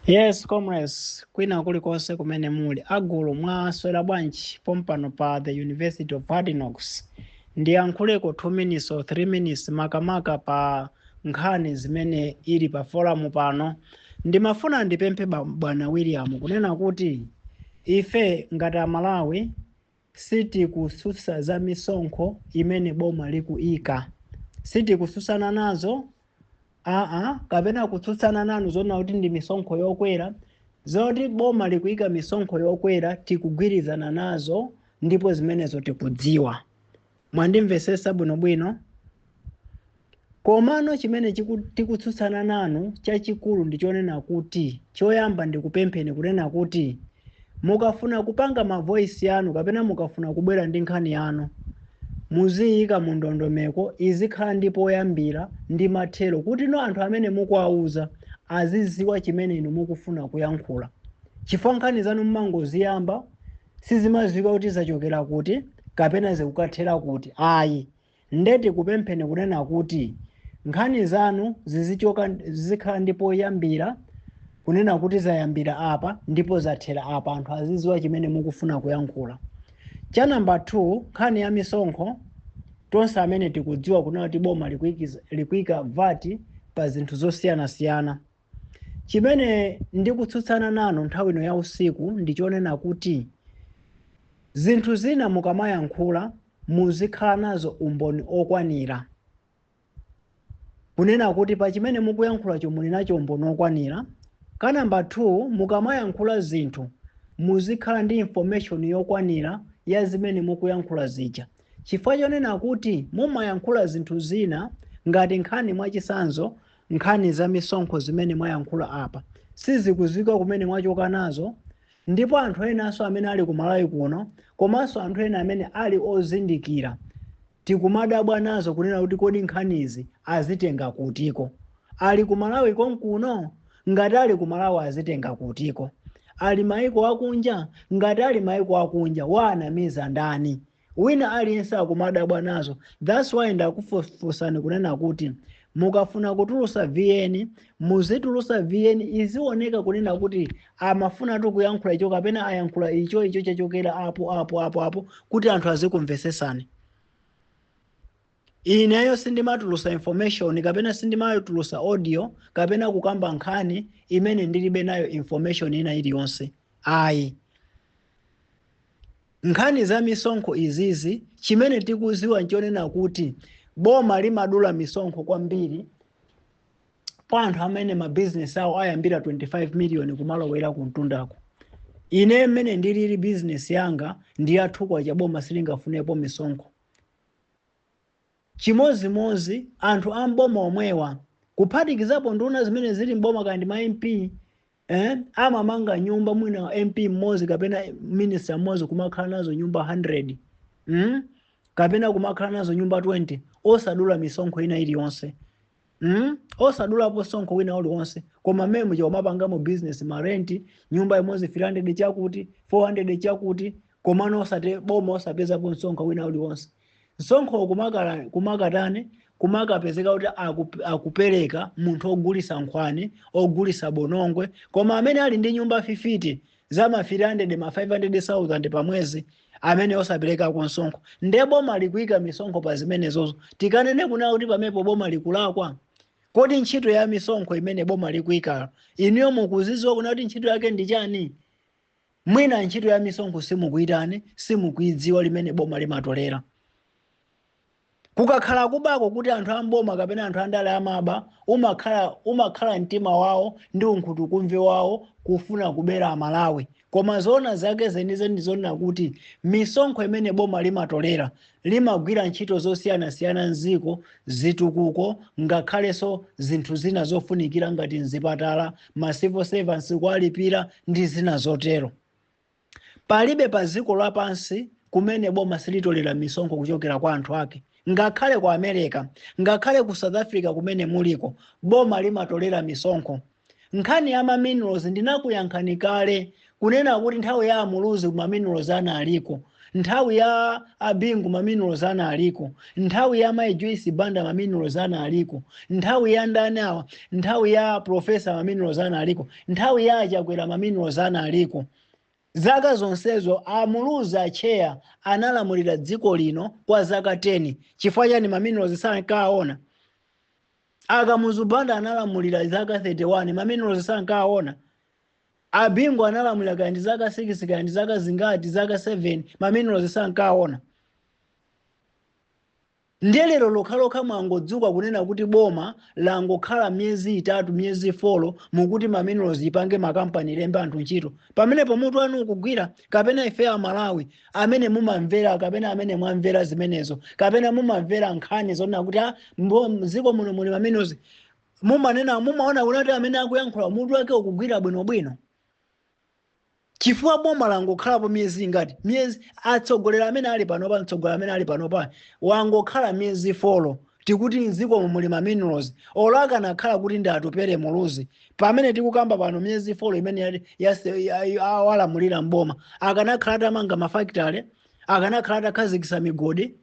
Yes, comrades, kwina kulikonse kumene muli agulu mwaswera bwanji pompano pa the University of Hard Knocks. Ndiyankhuleko 2 minutes or 3 minutes makamaka pa nkhani imene ili pa forum pano. Ndimafuna ndipemphe ba- bwana William kunena kuti ife ngati Amalawi Sitikutsutsa za misonkho imene boma likuika. Sitikutsutsana nazo aa kapena kutsutsana nanu zonena kuti ndi misonkho yokwera. Zoti boma likuika misonkho yokwera tikugwirizana nazo ndipo zimenezo tikudziwa. Mwandimvetsetsa bwinobwino? Komano chimene chiku, tikutsutsana nanu chachikulu ndi chonena kuti choyamba ndikupempheni kunena kuti mukafuna kupanga ma voice yanu kapena mukafuna kubwera ndi nkhani yanu muziyika mu ndondomeko izikhala ndi poyambira ndi mathero kutino anthu amene mukuwauza aziziwa chimene inu mukufuna kuyankhula chifukwa nkhani zanu mumangoziyamba sizimadziwika kuti zachokera kuti kapena zikukathera kuti ayi nde tikupempheni kunena kuti nkhani zanu zizichoka zizikhala ndi poyambira kunena kuti zayambira apa ndipo zathera apa anthu aziziwa chimene mukufuna kuyankhula cha namba 2 nkhani ya misonkho tonse amene tikudziwa kunena kuti boma likuikiza- likuika VAT pa zinthu zosiyanasiyana Chimene ndikutsutsana nanu nthawi ino ya usiku ndi chonena kuti zinthu zina mukamayankhula muzikhala nazo umboni okwanira. Kunena kuti pa chimene mukuyankhulacho muli nacho umboni okwanira. Ka number two, mukamayankhula zinthu muzikhala ndi information yokwanira ya zimene mukuyankhula zija. Chifukwa chonena kuti mumayankhula zinthu zina ngati nkhani mwachisanzo Nkhani za misonkho zimene mwayankhula apa sizikuziwika kumene mwachoka nazo ndipo anthu enanso amene ali ku Malawi kuno komanso anthu ena amene ali ozindikira tikumadabwa nazo kunena kuti kodi nkhanizi azitenga kutiko? Ali ku Malawi konkuno? Ngati ali ku Malawi azitenga kutiko? Ali maiko akunja? Ngati ali maiko akunja waanamiza ndani? wina aliyense akumadabwa nazo thats why ndakufunsani kunena kuti mukafuna kutulusa vn muzitulusa vn izioneka kunena kuti amafunatu kuyankhula icho kapena ayankhula icho icho chachokera apo apo apo apo kuti anthu azikumvesesani Ineyo sindimatulusa information kapena sindimatulusa audio kapena kukamba nkhani imene ndilibe nayo information ina iliyonse ayi. Nkhani za misonkho izizi chimene tikuziwa nchonena kuti boma limadula misonkho kwambiri pa anthu amene ma business awo ayambira 25 million kumalowera kumtundako. Ine mmene ndilili business yanga ndi yathukwa cha boma silingafunepo misonkho. Chimodzimodzi anthu a m'boma omwewa, kuphatikizapo nduna zimene zili m'boma kaya ndi ma MP, eh, amamanga nyumba mwina MP mmodzi kapena minister mmodzi kumakhala nazo nyumba 100, mm, kapena kumakhala nazo nyumba 20 osadula misonkho ina iliyonse. Mm? osadulapo sonkho wina uliwonse koma mmemo akumapangamo business marenti nyumba imodzi 300 chakuti 400 chakuti komano osati boma osapezapo msonkho wina uliwonse msonkho kumakatani kumakapezeka kuti akupereka munthu ogulisa nkhwani ogulisa bonongwe koma amene ali ndi nyumba fifiti za ma 300 ma 500,000 pa mwezi amene osaperekako msonkho nde boma likuika misonkho pa zimenezozo tikanene kunena kuti pamepo boma likulakwa kodi ntchito ya misonkho imene boma likuikalo inuyo mukuziziwa kunena kuti ntchito yake ndi chani mwina ntchito ya misonkho simukuitani simukuidziwa limene boma limatolera kukakhala kubako kuti anthu amboma kapena anthu andale amaba umakhala umakhala mtima wawo ndi unkhutukumve wawo kufuna kubera amalawi koma zoona zake zenizeni ndi zonena kuti misonkho imene boma limatolera limagwira ntchito zosiyanasiyana mziko zitukuko ngakhalenso zinthu zina zofunikira ngati mzipatala ma civil servants kuwalipira ndi zina zotero Palibe pa dziko lapansi kumene boma silitolera misonkho kuchokera kwa anthu ake. Ngakhale ku America, ngakhale ku South Africa kumene muliko, boma limatolera misonkho. Nkhani ya ma minerals ndinakuyankhani kale kunena kuti nthawi ya Amuluzi ma minerals analiko, nthawi ya Abingu ma minerals analiko, nthawi ya Mai Joyce Banda ma minerals analiko, nthawi ya ndani awa, nthawi ya Professor ma minerals analiko. Nthawi ya a Chakwera ma minerals analiko. Zaka zonsezo a Muluzi a chair analamulira dziko lino kwa zaka 10. Chifukwa chani ma minerals sankawaona? A Kamuzu Banda analamulira zaka 31 ma minerals sankawaona? A Bingu analamulira kaya ndi zaka 6 kaya ndi zaka zingati zaka 7 ma minerals sankawaona? Nde lero lokhalokha mwangodzuka kunena kuti boma langokhala myezi itatu myezi folo mukuti ma minerals ipange ma company ilembe anthu ntchito pamenepo mutu wanu ukugwira kapena ife amalawi amene mumamvera kapena amene mwamvera zimenezo kapena mumamvera nkhani zonena kuti a mbo- mziko muno muli ma minerals mumanena mumaona kuti amene akuyankhula mutu wake ukugwira bwinobwino chifukwa boma langokhalapo miyezi ingati miyezi atsogoleri amene ali panopa mtsogoleri amene ali panopa wangokhala miyezi folo tikuti mdzikomo muli ma minerals olo akanakhala kuti ndi atupele muluzi pamene tikukamba pano miyezi folo imene yali- yase- ya- ya- awalamulira mboma akanakhala atamanga mafakitale akanakhala atakhazikisa migodi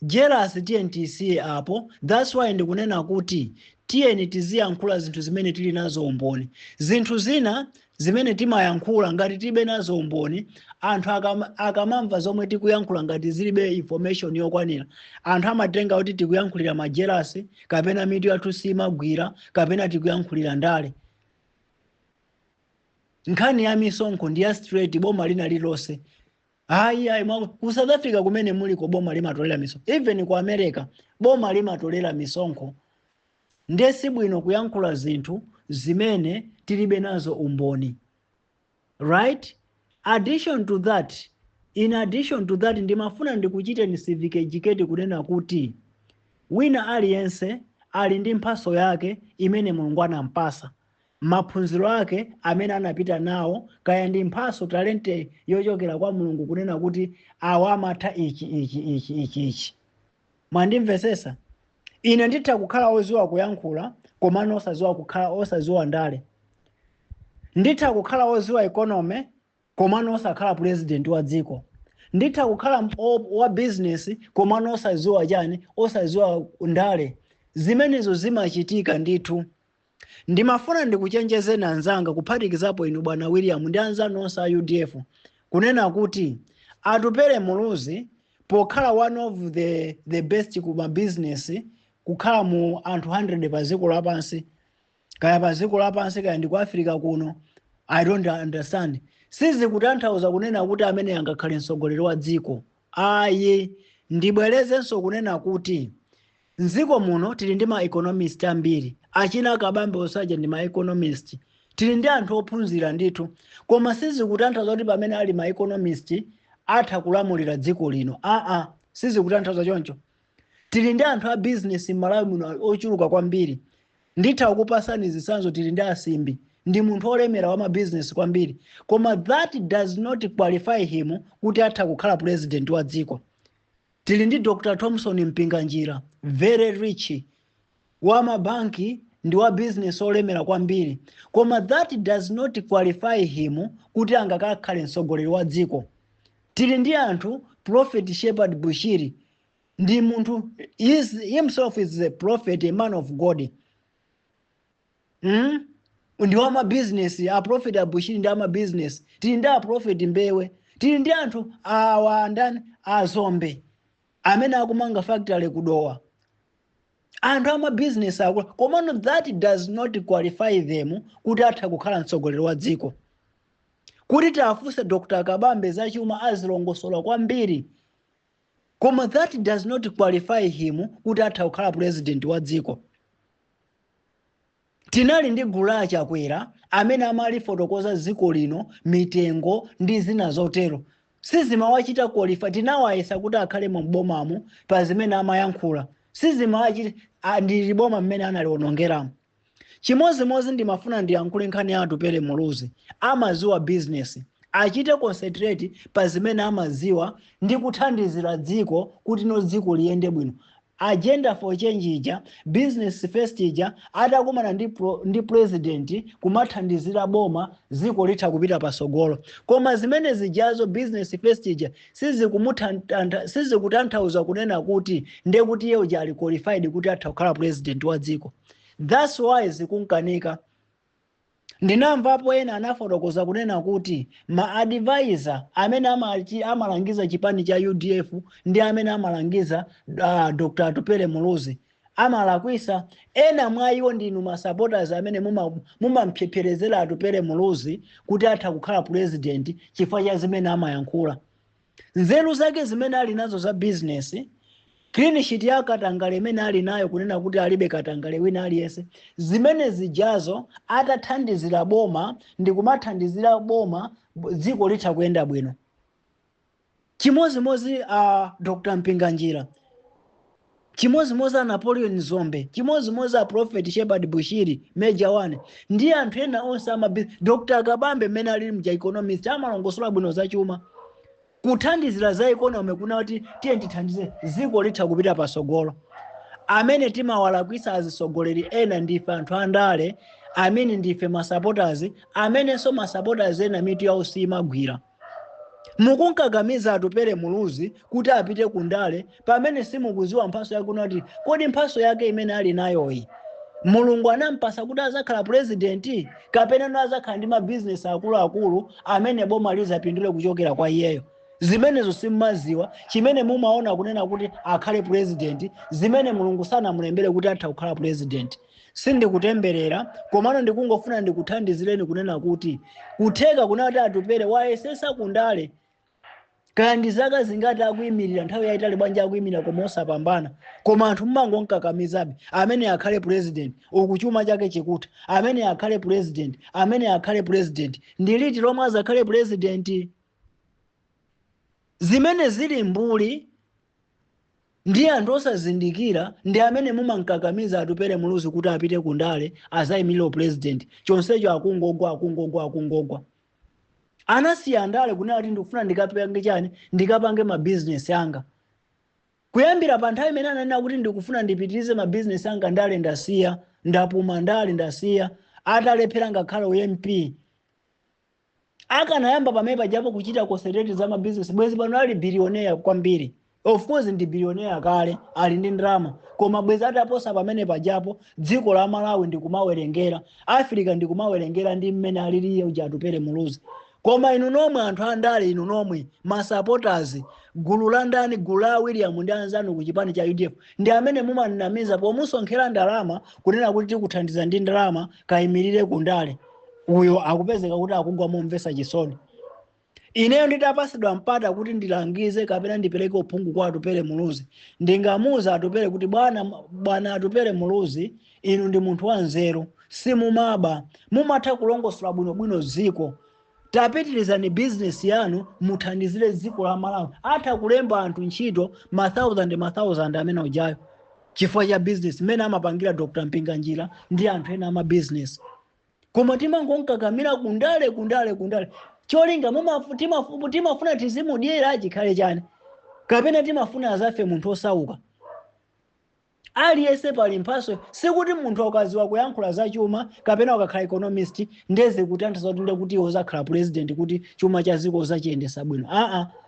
Jealous tiyeni tiisiye apo, that's why ndikunena kuti tiyeni tiziyankhula zinthu zimene tili nazo umboni. Zinthu zina zimene timayankhula ngati tilibe nazo umboni, anthu akam- akamamva zomwe tikuyankhula ngati zilibe information yokwanira, anthu amatenga kuti tikuyankhulira majelasi kapena mitu yathu simagwira kapena tikuyankhulira ndale. Nkhani ya misonkho ndi ya straight boma lina lililonse ayi ayi mwa- ku south africa kumene muliko boma limatolera misonkho even ku america boma limatolera misonkho nde si bwino kuyankhula zinthu zimene tilibe nazo umboni right addition to that in addition to that ndimafuna ndikuchiteni civic educate kunena kuti wina aliyense ali ndi mphaso yake imene mulungu anampasa maphunziro ake amene anapita nawo, kaya ndi mphaso, talente yochokera kwa Mulungu kunena kuti awa amatha ichi ichi ichi ichi ichi. Mwandimvesesa? Ine nditha kukhala oziwa kuyankhula komano osaziwa kukhala osaziwa ndale. Nditha kukhala oziwa economy komano osakhala president wa dziko. Nditha kukhala wa business komano osaziwa chani, osaziwa ndale. Zimenezo zimachitika ndithu. Ndimafuna ndikuchenjezeni anzanga kuphatikizapo inu bwana William ndi anzanu onse a udf kunena kuti Atupele Muluzi pokhala one of the, the best ku mabizinesi kukhala mu anthu 100 pa dziko lapansi kaya pa dziko lapansi kaya ndi ku Africa kuno I don't understand sizikutanthauza kunena kuti ameneyo angakhale mtsogoleri wa dziko ayi ndibwerezenso kunena kuti M'dziko muno tili ndi ma economist ambiri, achina Kabambe onse aja ndi ma economist. Tili ndi anthu ophunzira ndithu, koma sizikutanthauza kuti pamene ali ma economist atha kulamulira dziko lino, aa sizikutanthauza choncho. Tili ndi anthu a business m'Malawi muno ochuluka kwambiri. Nditha kukupasani zitsanzo tili ndi a Simbi, ndi munthu olemera wa ma business kwambiri, koma that does not qualify him kuti atha kukhala president wa dziko. Tili ndi Dr Thomson Mpinganjira, very rich, wa ma banki ndi wa business olemera kwambiri koma that does not qualify him kuti angakakhale mtsogoleri wa dziko. Tili ndi anthu Prophet Shepherd Bushiri ndi munthu himself is a prophet, a man of God. mm? ndi wa mabizinesi a prophet abushiri ndi amabizinesi tili ndi a prophet mbewe tili ndi anthu awa ndani a Dzombe amene akumanga factory ku Dowa anthu amabizinesi akula komano that does not qualify them kuti atha kukhala mtsogoleri wa dziko kuti titafunsa dr kabambe zachuma azilongosola kwambiri koma that does not qualify him kuti atha kukhala president wa dziko Tinali ndi gulu la achakwera amene amalifotokoza dziko lino, mitengo ndi zina zotero. Sizimawachita qualify, tinawayesa kuti akhalemo m'bomamu pa zimene amayankhula. Sizimawachita ndili boma mmene analionongeramo. Chimodzimodzi ndimafuna ndiyankhule nkhani ya Atupele Muluzi. Amadziwa business. Achite concentrate pa zimene amadziwa ndi kuthandizira dziko kuti no dziko liyende bwino. Agenda for change ija, business first ija atakumana ndi president kumathandizira boma dziko litha kupita patsogolo. Koma zimene zijazo business first ija sizikumutantha sizikutanthauza kunena kuti ndiye kuti iye uja ali qualified kuti atha kukhala president wa dziko. That's why zikunkanika. Ndinamvapo ena anafotokoza kunena kuti ma advisor amene amalangiza chipani cha udf ndi amene amalangiza uh, Dr. Atupele Muluzi amalakwisa. Ena mwa iwo ndinu ma supporters amene mumamphepherezera Atupele Muluzi kuti atha kukhala president chifukwa cha zimene amayankhula. nzeru zake zimene ali nazo za bizinesi clean sheet ya katangale imene ali nayo kunena kuti alibe katangale wina aliyense zimene zijazo atathandizira boma ndi kumathandizira boma bo- dziko litha kuyenda bwino chimozimozi a uh, dr mpinganjira Chimodzimodzi a Napoleon Dzombe, chimodzimodzi a Prophet Shepherd Bushiri, Major 1, ndi anthu ena onse a mabizinesi. Dr. Kabambe mmene alili muja economist amalongosola bwino za chuma. Kuthandizira za economy kunena kuti tiye tithandize dziko litha kupita patsogolo. Amene timawalakwitsa azitsogoleri ena ndife anthu andale, I mean ndife ma supporters, amenenso ma supporters ena mitu yawo siyimagwira. mukunkakamiza atupere muluzi kuti apite ku ndale pamene simukuziwa mphaso yake unati kodi mphaso yake imene ali nayoyi mulungu anampasa kuti azakhala purezidenti kapena azakhala ndi mabizinesi akuluakulu amene boma lizapindule kuchokera kwa iyeyo zimenezo simmaziwa chimene mumaona kunena kuti akhale purezidenti zimene mulungu sanamulembere kuti atha kukhala purezidenti sindikutemberera komano ndikungofuna ndikuthandizireni kunena kuti kutheka kunati atupere wayesesa kundale kaya ndi zaka zingati akuyimirira nthawi yayitali bwanji akuyimirira koma osapambana koma anthu mumangomkakamizabe amene akhale president uku chuma chake chikutha amene akhale president amene akhale president ndi liti lomwe azakhale president zimenezo ndi mbuli Ndi anthu osazindikira ndi amene mumamkakamiza Atupele Muluzi kuti apite ku ndale azaimilire u president chonsecho akungogwa akungogwa akungogwa. Anasiya ndale kunena kuti ndikufuna ndikapange chani ndikapange ma business anga. Kuyambira pa nthawi imene ananena kuti ndikufuna ndipitirize ma business anga ndale ndasiya ndapuma ndale ndasiya atalephera ngakhale u MP akanayamba pamene pajapo kuchita concentrate za mabizinesi bwezi pano ali bilioneya kwambiri of course ndi bilioneya kale ali ndi ndalama koma bwezi ataposa pamene pajapo dziko la malawi ndikumawerengera africa ndikumawerengera ndi mmene aliliye uja atupere muluzi koma inu nomwe anthu andale inu nomwe masupporters gulu la ndani gulu la william ndi anzanu ku chipani cha udf ndi amene mumamnamiza pomusonkhera ndalama kunena kuti tikuthandiza ndi ndalama kayimirire ku ndale uyo akupezeka kuti akugwa momvesa chisoni ineyo nditapasidwa mpata kuti ndilangize kapena ndipereke uphungu kwa atupere muluzi ndingamuuze atupere kuti bwana bwana atupere muluzi inu ndi munthu wa nzeru simumaba mumatha kulongosola bwinobwino dziko tapitirizani bizinesi yanu muthandizire dziko la malawi atha kulemba anthu ntchito ma 1000 ma 1000 amene ujayo chifukwa cha business mmene amapangira dr mpinganjira ndi anthu ena ama business koma timangonkakamira kundale kundale kundale cholinga mumafu- timafu- timafuna tizimudyera chikhale chani kapena timafuna azafe munthu osauka aliyense pali mphaso sikuti munthu akaziwa kuyankhula za chuma kapena akakhala economist ndeze kutanthaza kuti ndekuti uzakhala president kuti chuma cha ziko uzachiyendesa bwino aa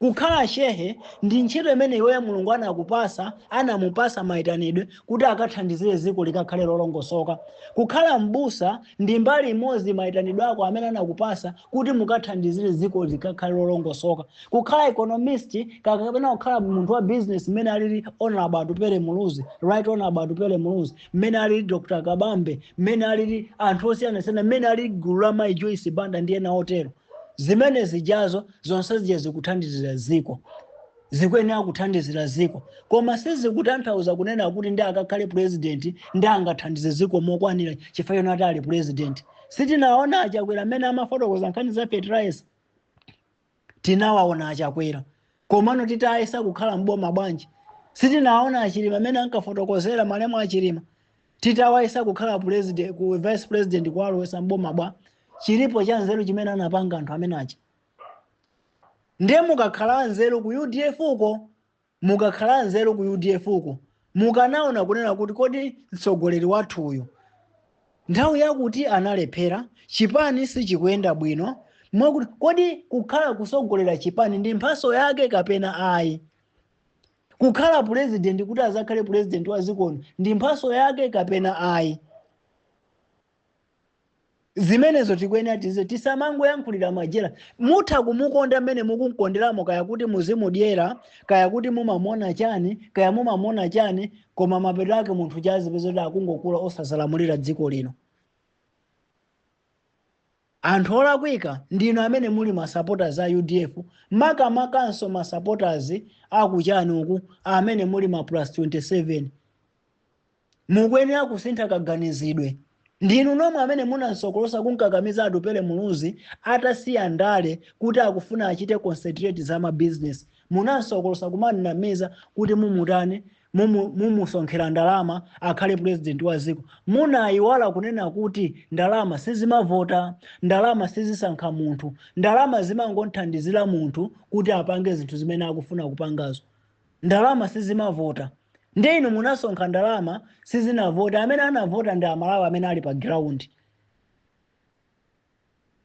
Kukhala Shehe ndi ntchito imene iweyo Mulungu anakupasa, anamupasa maitanidwe kuti akathandizire ziko likakhale lolongosoka. Kukhala M'busa ndi mbali imodzi maitanidwe ako amene anakupasa kuti mukathandizire ziko likakhale lolongosoka. Kukhala Economist kapena kukhala munthu wa business mmene alili Hon Atupele Muluzi, Right Hon Atupele Muluzi, mmene alili Dr Kabambe, mmene alili anthu osiyanasiyana, mmene alili gulu la Mayi Joyce Banda ndi ena otero. zimene zijazo zonse zija zikuthandizira dziko zikuyenera kuthandizira dziko koma sizikutanthauza kunena kuti ndi akakhale purezidenti ndi angathandize dziko mokwanira chifukwa choti ati ali purezidenti sitinaona a Chakwera amene amafotokoza nkhani za fertilizer tinawaona a Chakwera komano titayesa kukhala mboma bwanji sitinaona a Chilima amene ankafotokozera malemu a Chilima titawayesa kukhala president vice president kuwalowesa mboma bwa chilipo cha nzeru chimene anapanga anthu amene aja ndiye mukanakhala anzeru ku udf uko mukanakhala anzeru ku udf uko mukanaona kunena kuti kodi mtsogoleri wathu uyu nthawi yakuti analephera chipani sichikuyenda bwino mwakuti kodi kukhala kusogolera chipani ndi mphaso yake kapena ayi Kukhala pulezidenti kuti azakhale pulezidenti wa ziko lino ndi mphaso yake kapena ayi? Zimenezo tikuyenera tiziwe tisamangoyankhulira madyera. Mutha kumukonda mmene mukumkonderamo kaya kuti muzimudyera kaya kuti mumamuona chani kaya mumamuona chani koma mapeto ake munthu uja azipeza kuti akungokula osazalamulira dziko lino. Anthu olakwika ndinu amene muli ma supporters a udf makamakanso ma supporters a ku chani uku amene muli ma plus 27. Mukuyenera kusintha kaganizidwe. Ndinu nomwe amene munansokolosa kumkakamiza Atupele Muluzi atasiya ndale kuti akufuna achite concentrate za ma business. Munansokolosa kumamnamiza kuti mumutani mumu mumusonkhera ndalama akhale president wa dziko munaiwala kunena kuti ndalama sizimavota ndalama sizisankha munthu ndalama zimangothandizira munthu kuti apange zinthu zimene akufuna kupangazo ndalama sizimavota ndiye inu munasonkha ndalama sizinavota amene anavota ndi amalawi amene ali pa ground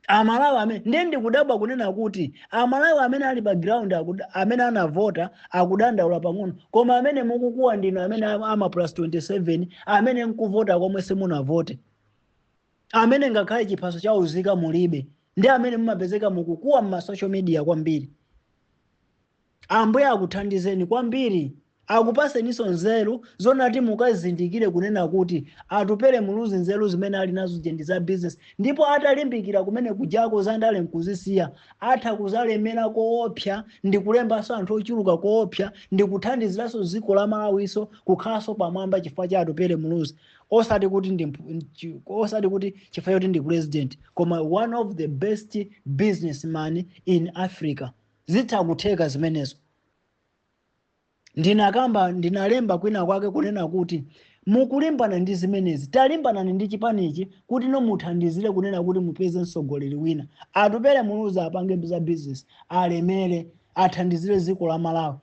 amalawi amene ndiye ndikudabwa kunena kuti amalawi amene ali pa ground akuda- amene anavota akudandaula pang'ono koma amene mukukuwa ndinu amene ama ama plus 27 amene nkuvota komwe simunavote amene ngakhale chiphaso cha uzika mulibe ndi amene mumapezeka mukukuwa mma social media kwambiri Ambuye akuthandizeni kwambiri akupaseninso nzeru zonena kuti mukazindikire kunena kuti Atupele Muluzi nzeru zimene ali nazo zija ndi za business ndipo atalimbikira kumene kujako za ndale nkuzisiya atha kuzalemera koopsa ndikulembanso anthu ochuluka koopsa ndikuthandiziranso dziko la Malawinso kukhalanso pamwamba chifukwa cha Atupele Muluzi osati kuti ndi mphu- nchi- osati kuti chifukwa choti ndi president koma one of the best businessman in Africa zitha kutheka zimenezo ndinakamba ndinalemba kwina kwake kunena kuti mukulimbana ndi zimenezi talimbanani ndi chipanichi kuti nomuthandizire kunena kuti mupeze mtsogoleri wina atupere muluzi apange mabizinesi alemere athandizire dziko la malawi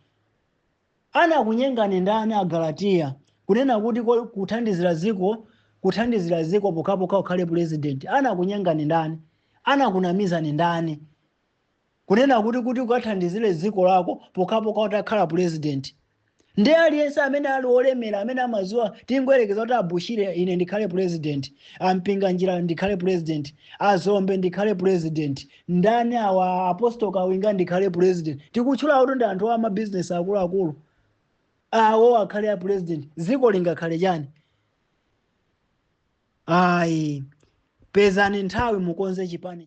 anakunyengani ndani agalatiya kunena kuti ko- kuthandizira dziko kuthandizira dziko pokhapokha ukhale pulezidenti anakunyengani ndani anakunamizani ndani kunena kuti kuti ukathandizire dziko lako pokhapokha utakhala purezidenti ndi aliyense amene ali olemera amene amaziwa tingoyerekeza kuti a bushiri ine ndikhale purezidenti a mpinganjira ndikhale purezidenti a zombe ndikhale purezidenti ndani awa apostol kawinga ndikhale purezidenti tikutchula kuti ndi anthu a mabizinesi akuluakulu awo akhale a purezidenti dziko lingakhale chani ayi pezani nthawi mukonze chipani